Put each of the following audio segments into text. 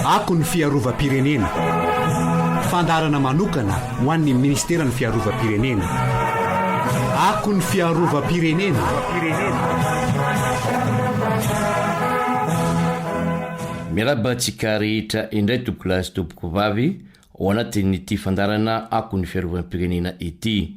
Ako ny fiarovam-pirenena. Fandaharana manokana ho an'ny Ministeran'ny Fiarovam-pirenena. Ako ny fiarovam-pirenena. Miarahaba antsika rehetra indray tompokolahy sy tompokovavy ao anatin'ity fandaharana Ako ny fiarovam-pirenena ity.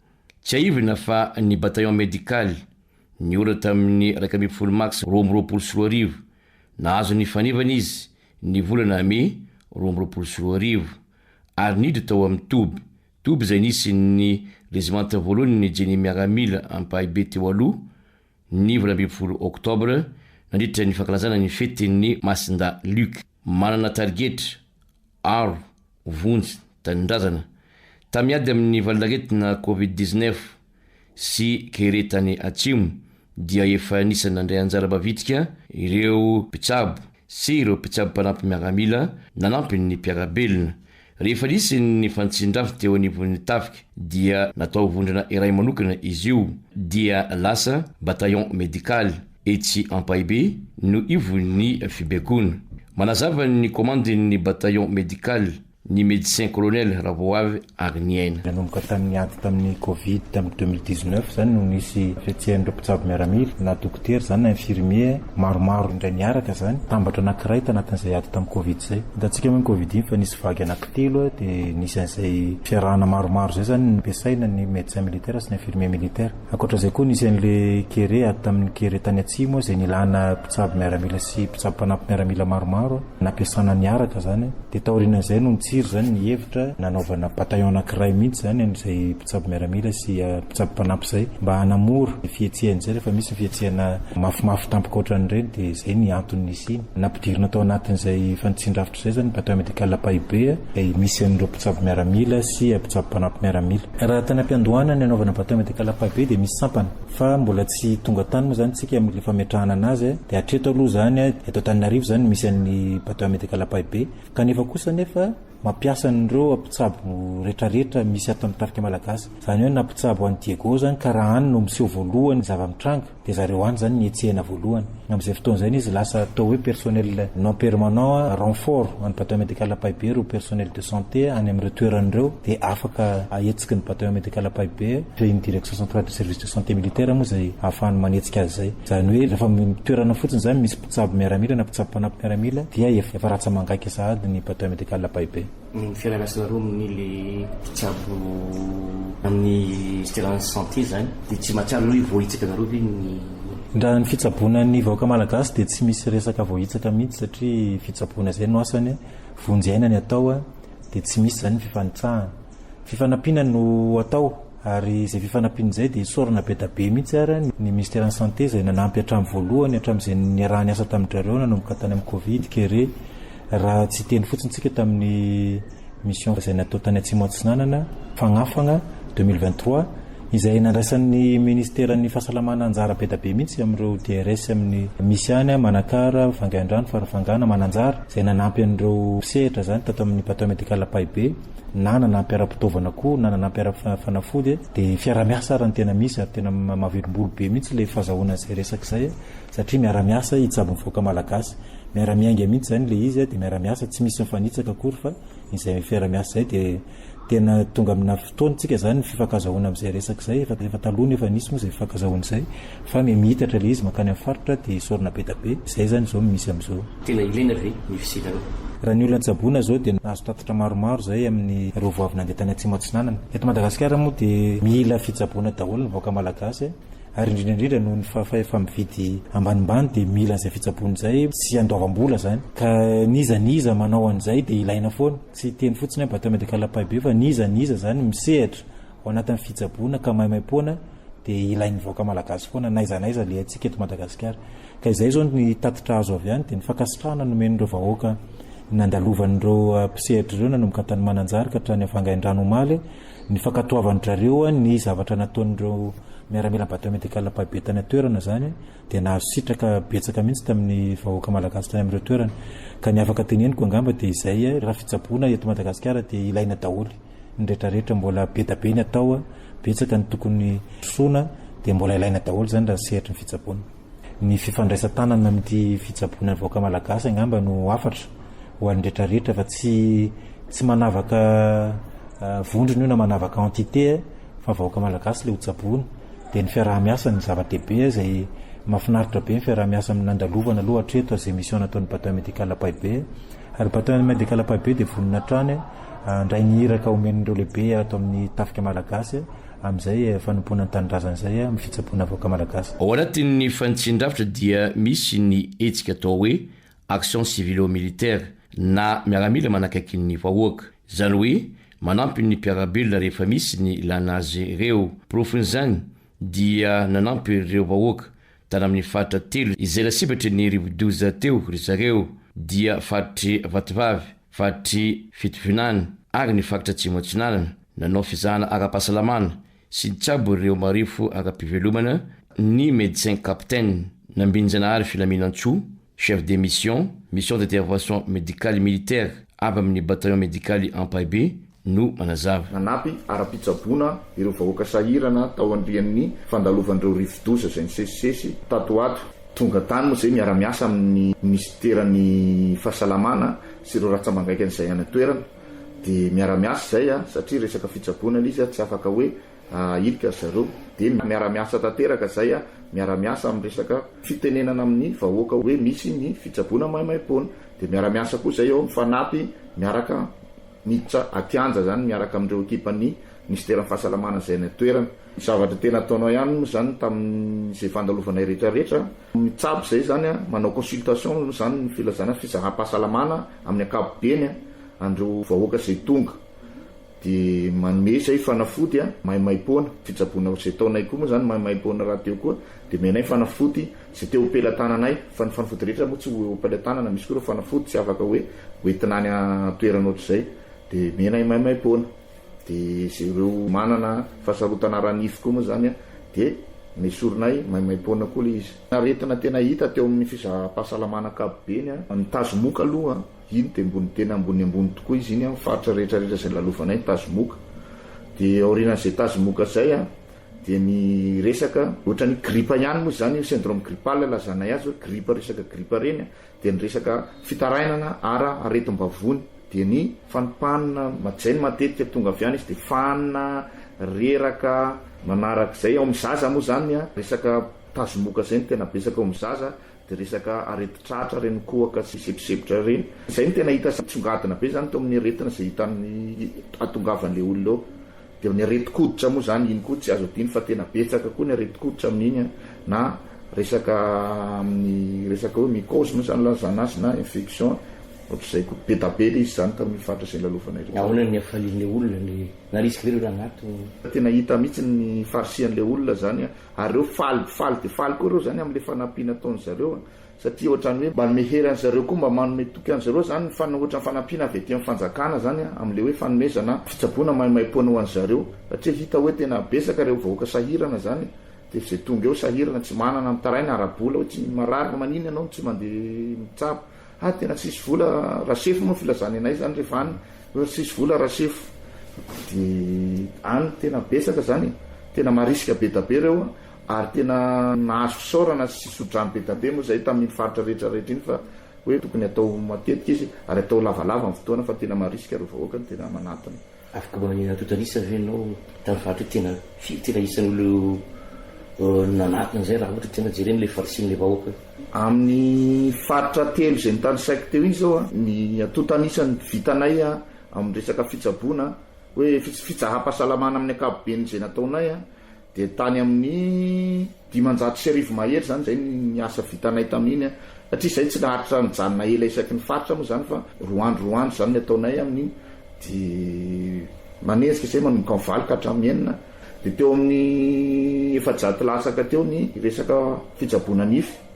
Tsiahivina fa ny Bataillon Médical, niora tamin'ny iraika ambin'ny folo mars roa amby roapolo sy roa arivo, nahazo ny fanevany izy ny volana mey roa amby roapolo sy roa arivo, ary niditra tao amin'ny toby, toby izay nisy ny rezimanta voalohan'ny Jenny Miaramila ampahibe teo aloha, ny valo ambin'ny folo oktobra nandritra ny fankalazana ny fetin'ny Masinda Luc. Manana tarigetra, aro, vonjy, tanindrazana, tamin'ny ady amin'ny valanaretina covid dix-neuf sy kere tany Atsimo dia efa anisan'ny nandray anjara mavitrika ireo mpitsabo. sy ireo mpitsabo mpanampy miaramila nanampy ny mpiara-belona. Rehefa nisy ny fanitsian-drafy teo anivon'ny tafika dia natao vondrona iray manokana izy io dia lasa bataillon médical. Etsy Ampahibe no ivon'ny fibaikoana. Manazava ny komandin'ny bataillon médical. ny Médecin Colonel Ravoavy Agniaina. Nanomboka tamin'ny ady tamin'ny Covid tamin'ny deux mille dix-neuf izany no nisy fihetsehan'ireo mpitsabo miaramila, na dokotera izany na infirmiers, maromaro indray niaraka izany. Tambatra anankiray tanatin'izay ady tamin'ny Covid izay. Hitantsika moa ny Covid iny fa nisy vague anankitelo dia nisy an'izay fiarahana maromaro izay izany no nampiasaina ny Médecin militaire sy ny infirmiers militaires. Ankoatra izay koa nisy an'ilay Kere, ady tamin'ny Kere tany atsimo izay nilana Sady miaramila sy mpitsabo mpanampy miaramila maromaro nampiasana niaraka zany de taorinan'izay no nitsiry zany ny hevitra nanaovana bataillon anankiray mihitsy zany amin'izay mpitsabo miaramila sy mpitsabo mpanampy zay mba hanamora ny fihetsehany zay rehefa misy ny fihetsehana mafimafy tampoka otran'ireny de zay ny antony nisiany nampidirina tao anatin'izay efa nitsindrafitra zay zany bataillon medical Ampahibe izay misy an'ireo mpitsabo miaramila sy mpitsabo mpanampy miaramila. Raha tany ampiandohana ny hanaovana bataillon medical Ampahibe de misy sampana. Fa mbola tsy tonga tany moa zany tsika amin'le fametrahana anazy e, de hatreto aloha zany a, eto Antananarivo zany misy an'ny Bateau à Medical Ampahibey, kanefa kosa anefa mampiasa an'ireo mpitsabo retraretra misy ato amin'ny tafika Malagasy, zany hoe na mpitsabo any Diego zany ka raha any no miseho voalohany ny zava-mitranga de zareo any zany no hetsehina voalohany. Amin'izay fotoana izay izy lasa atao hoe personnel non permanent renfort an'ny bataillon médical Ampahibey ireo personnel de santé any amin'ireo toerana ireo dia afaka ahetsiky ny bataillon médical Ampahibey dia ny direction centrale du service de santé militaire moa izay ahafahany manetsika azy izay. Izany hoe rehefa toerana fotsiny izany misy mpitsabo miaramila na mpitsabo mpanampy miaramila dia efa ratsa-mangaika sahady ny bataillon médical Ampahibey. Ny fialana sy ny romony le mpitsabo amin'ny Stellance Santé zany de tsy mahatsiaro hoe voahitsaka nareo ve ny. Ndra ny fitsaboana ny vahoaka malagasy dia tsy misy resaka voahitsaka mihitsy satria fitsaboana zay no asany a, vonjy aina ny atao a, dia tsy misy zany ny fifanitsahana. Fifanampiana no atao. Ary izay fifanampiana izay dia isaorana be da be mihitsy ary ny Ministeran'ny Santé izay nanampy hatramin'ny voalohany hatramin'izay niaraha-niasa tamin-drareo nanomboka tany amin'ny Covid kere raha tsy hiteny fotsiny tsika tamin'ny mission izay natao tany Atsimo Atsinanana Fagnafagna deux mille vingt trois izay nandraisan'ny Ministeran'ny Fahasalamana anjara be da be mihitsy amin'ireo DRS amin'ny misy any Manakara, Vangaindrano, Farafangana, Mananjary izay nanampy an'ireo mpisehatra izany tato amin'ny Bateau Medical Ampahibe. na nanampy ara-pitaovana koa na nanampy ara-fanafody dia fiarahamiasa ary ny tena misy ary tena mahavelombolo be mihitsy ilay fazahoana izay resaka izay satria miaramiasa hitsabo ny vahoaka malagasy miara-miainga mihitsy izany ilay izy dia miara-miasa tsy misy mifanitsaka akory fa izay fiaramiasa izay dia tena tonga amina fotoana tsika izany ny fifankazahoana amin'izay resaka izay efa taloha nefa nisy moa izay fifankazahoana izay Fa mimitatra ilay izy mankany amin'ny faritra dia esorina be da be. Izay izany izao no misy amin'izao. Tena ilaina ve ny fisidana? Raha ny olona tsaboina izao dia nahazo tatitra maromaro izay amin'ireo voavy nandeha tany Atsimo Atsinanana. Eto Madagasikara moa dia mila fitsaboana daholo ny vahoaka Malagasy ary indrindra indrindra noho ny fahefa-mividy ambanimbany dia mila an'izay fitsaboana izay sy andoavam-bola izany. Ka n'iza n'iza manao an'izay dia ilaina foana. Tsy hiteny fotsiny aho Bata Medical Ampahibe fa n'iza n'iza izany misehatra ao anatin'ny fitsaboana ka maimaimpoana dia ilain'ny vahoaka malagasy foana n'aiza n'aiza le antsika eto Madagasikara. Ka izay izao ny tatitra azo avy any dia ny fankasitrahana nomen'ireo vahoaka nandalovan'ireo mpisehatra ireo nanomboka tany Mananjary ka hatrany Vangaindrano omaly ny fankatoavan-drareo ny zavatra nataon'ireo miaramila Bateau Médical mpabe tany an-toerana izany dia nahazo sitraka betsaka mihitsy tamin'ny vahoaka malagasy tany amin'ireo toerana ka ny afaka teneniko angamba dia izay raha fitsaboana eto Madagasikara dia ilaina daholo ny rehetra rehetra mbola be da be ny atao a, betsaka ny tokony trotroina dia mbola ilaina daholo izany raha ny sehatry ny fitsaboana. Ny fifandraisan-tanana amin'ity fitsaboana ny vahoaka malagasy angamba no hafatra ho an'ny rehetra rehetra fa tsy tsy manavaka vondrona io na manavaka entité a, fa vahoaka malagasy ilay ho tsaboina, dia ny fiaraha-miasa no zava-dehibe izay mahafinaritra be ny fiaraha-miasa nandalovana aloha hatreto az emission nataon'ny bataillon médical Ampahibey, ary bataillon médical Ampahibey dia vonona hatrany Handray ny iraka omen'ireo lehibe ato amin'ny tafika malagasy amin'izay fanompoana ny tanindrazana izay amin'ny fitsaboana vahoaka malagasy. Ao anatin'ny fanitsin-drafitra dia misy ny hetsika atao hoe action civilo-militaire na miaramila manakaiky ny vahoaka. Izany hoe manampy ny mpiara-belona rehefa misy ny ilana azy ireo. Porofon'izany dia nanampy ireo vahoaka tany amin'ny faritra telo izay lasibatry ny rivodoza teo ry zareo dia faritry Vatovavy, faritr'i Fitovinany ary ny faritra Atsimo Atsinanana. Nanao fizahana ara-pahasalamana sy nitsabo ireo marefo ara-pivelomana ny Médecin Capitaine Nambinjanahary Filaminantsoa, Chef de Mission, Mission d'Intervention Médicale et Militaire avy amin'ny Bataillon Médicale Ampahibey, no manazava. Nanampy ara-pitsaboana ireo vahoaka sahirana tao anrian'ny fandalovan'ireo rivodoza izay nisesisesy tato ho ato. Tonga tany moa izay miara-miasa amin'ny minisiteran'ny fahasalamana sy ireo ratsambangaikany izay any an-toerana. Dia miara-miasa izay satria resaka fitsaboana ilay izy tsy afaka hoe hirika ry zareo. Dia miara-miasa tanteraka izay, miara-miasa amin'ny resaka fitenenana amin'ny vahoaka hoe misy ny fitsaboana maimaimpoana. Dia miara-miasa koa izay eo amin'ny fanampy miaraka Niditra an-kianja izany miaraka amin'ireo ekipan'ny minisiteran'ny fahasalamana izay any an-toerana. Zavatra tena ataonao ihany moa izany tamin'izay fandalovanay rehetrarehetra, mitsabo izay izany, manao consultation izany ny filazana fizaham-pahasalamana amin'ny ankapobeny an'ireo vahoaka izay tonga, dia manome izay fanafody maimaim-poana, fitsaboana izay ataonay koa moa izany maimaim-poana rahateo koa dia omenay fanafody. Tsy te ho pelatananay, fa ny fanafody rehetra moa tsy ho pelatanana, misy koa ireo fanafody tsy afaka hoe hoentina any an-toerana ohatr'izay dia mena i maimaimpoana, dia izay ireo manana fahasarotana ara-nify koa moa izany dia nesorinay maimaimpoana koa ilay izy. Aretina tena hita teo amin'ny fizaham-pahasalamana ankapobeny, ny tazomoka aloha iny dia ambony tena ambony ambony tokoa izy iny amin'ny faritra rehetra rehetra izay lalovanay ny tazomoka, dia aorianan'izay tazomoka izay Dia ny resaka ohatran'ny gripa ihany moa izany io syndrome grippal lazanay azy hoe gripa resaka gripa ireny dia ny resaka fitarainana ara aretim-bavony dia ny fanipanina majany matetika tonga avy any izy dia fanina, reraka, manarak'izay ao amin'ny zaza moa izany resaka tazomoka izay no tena betsaka ao amin'ny zaza Dia resaka aretin-tratra reni-kohaka sy seposepotra ireny. Izay no tena hita misongadina be izany teo amin'ny aretina izay hita amin'ny hahatongavan'ilay olona eo. Dia ny aretin-koditra moa izany, iny koa tsy azo adino fa tena betsaka koa ny aretin-koditra amin'iny na resaka amin'ny resaka hoe mycose moa izany ilazana azy na infection ohatr'izay koa. Be da be ilay izy izany tamin'io faritra izay nilalovanay ireo. Ahoana ny hafalian'ilay olona? Narisika ve ireo rangah teo? Tena hita mihitsy ny faharisian'ilay olona izany Ary reo faly faly de faly koa reo zany amle fanampiana ataony zareo a! satria otrany hoe mba anome hery any zareo koa mba manome toky any zareo zany ny fana otrany fanampiana avy aty am fanjakana zany a amle hoe fanomezana fitsaboana maimaimpoana ho any zareo satria hita hoe tena betsaka reo vahoaka sahirana zany de ze tonga eo sahirana tsy manana mitaraina ara bola hoe tsy marary manina enao no tsy mande mitsabo Ha tena tsisy vola rasefo moa filazany anay zany refa any hoe tsisy vola rasefo de any tena betsaka zany e tena marisika bedabe reo ary tena nahazo fisaorana sy sodrano bedabe moa zay tamin faritra rehetra rehetra iny fa hoe tokony atao matetika izy ary atao lavalava ny fotoana fa tena marisika reo vahoaka tena manatona. Afaka manana totalisa ve enao tany faritry hoe tena firy tena isan'ny olona nanatona an'izay raha ohatra tena jerena ilay farisin'ilay vahoaka eo? Amin'ny faritra telo izay notanisaiko teo iny zao ny atotan'isan'ny vitanay amin'ny resaka fitsaboana hoe fitsaham-pahasalamana amin'ny ankapoben'izay nataonay Dia tany amin'ny dimanjato sy arivo mahery izany izay ny asa vitanay tamin'iny, satria izahay tsy naharitra nijanona ela isaky ny faritra moa izany fa roa andro roa andro izany ny ataonay amin'iny, dia manenjika izahay manomboka amin'ny valo ka hatramin'ny enina, dia teo amin'ny efajato latsaka teo ny resaka fitsaboana nify.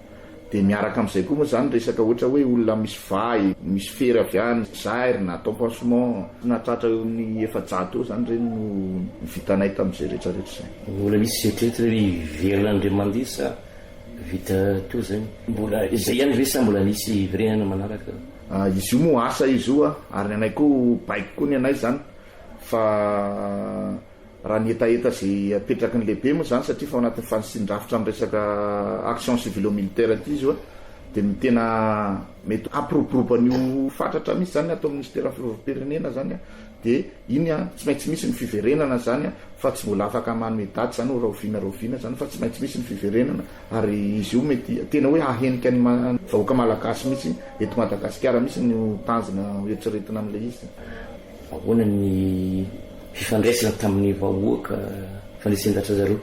Dia miaraka amin'izay koa moa izany resaka ohatra hoe olona misy vay, misy fery avy any Zaire na atao pansement, nahatratra eo amin'ny efajato eo izany ireny no vitanay tamin'izay rehetra rehetra izay. Mbola misy eritreritra hoe hiverina Andriamandihy sa vita toa izay? Mbola izay ihany ve sa mbola misy hiverenana manaraka? Izy io moa asa izy io ary ny anay koa baiko koa ny anay izany fa Raha ny hetaheta izay apetraky ny lehibe moa izany, satria efa ao anatin'ny fanitsian-drafitra amin'ny resaka action civilo-militaire ity izy io, dia ny tena mety hampiroborobo an'io fatratra mihitsy izany ny ato amin'ny Minisiteran'ny Fiarovam-pirenena izany, dia iny tsy maintsy misy ny fiverenana izany fa tsy mbola afaka manome daty izany hoe rahoviana rahoviana izany fa tsy maintsy misy ny fiverenana ary izy io mety tena hoe hahenika ny vahoaka malagasy mihitsy eto Madagasikara mihitsy no tanjona hoeritreretina amin'ilay izy. Ahoana ny fifandraisana tamin'ny vahoaka fandresen-dahatra zareo?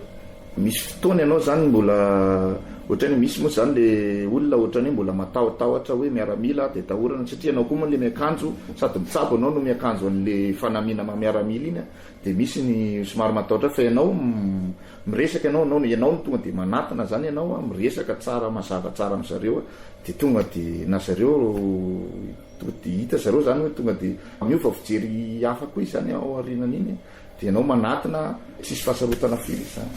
Misy fotoana ianao zany mbola ohatrany hoe misy moa zany le olona ohatrany hoe mbola matahotahotra hoe miaramila de atahorana satria ianao koa moa le miakanjo sady mitsabo ianao no miakanjo anle fanamiana maha miaramila iny a de misy ny somary matahotra fa ianao miresaka ianao ianao no ianao no tonga de manatona zany ianao a miresaka tsara mazava tsara amzareo a de tonga de na zareo Tonga dia hita zareo izany hoe tonga dia miova fijery hafa koa izany ao aorianan'iny dia ianao manatona tsisy fahasarotana firy izany.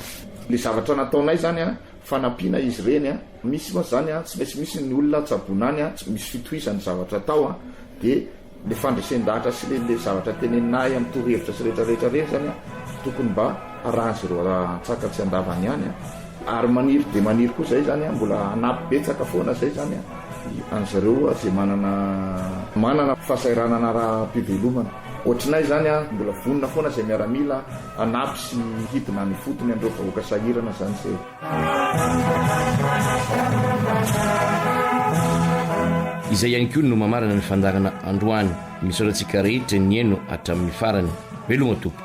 Ilay zavatra nataonay izany an, fanampiana izy ireny an, misy mantsy izany an, tsy maintsy misy ny olona tsaboina any an, tsy misy fitohizan'ny zavatra atao an, dia ilay fandresen-dahatra sy ilay zavatra teneninay amin'ny torohevitra sy rehetra rehetra ireny izany an, tokony mba. Raha azy ireo atsaka tsy andavany ihany ary maniry dia maniry koa izay izany mbola hanampy betsaka foana izay izany an'izy ireo izay manana manana fahasahiranana ara-pivelomana ohatrinay izany mbola vonona foana izay miaramila hanampy sy hidina any ifotony an'ireo vahoaka sahirana izany izay. Izay ihany koa no mamarana ny fandaharana androany. Misaotra antsika rehetra nihaino hatramin'ny farany. Veloma Tompo.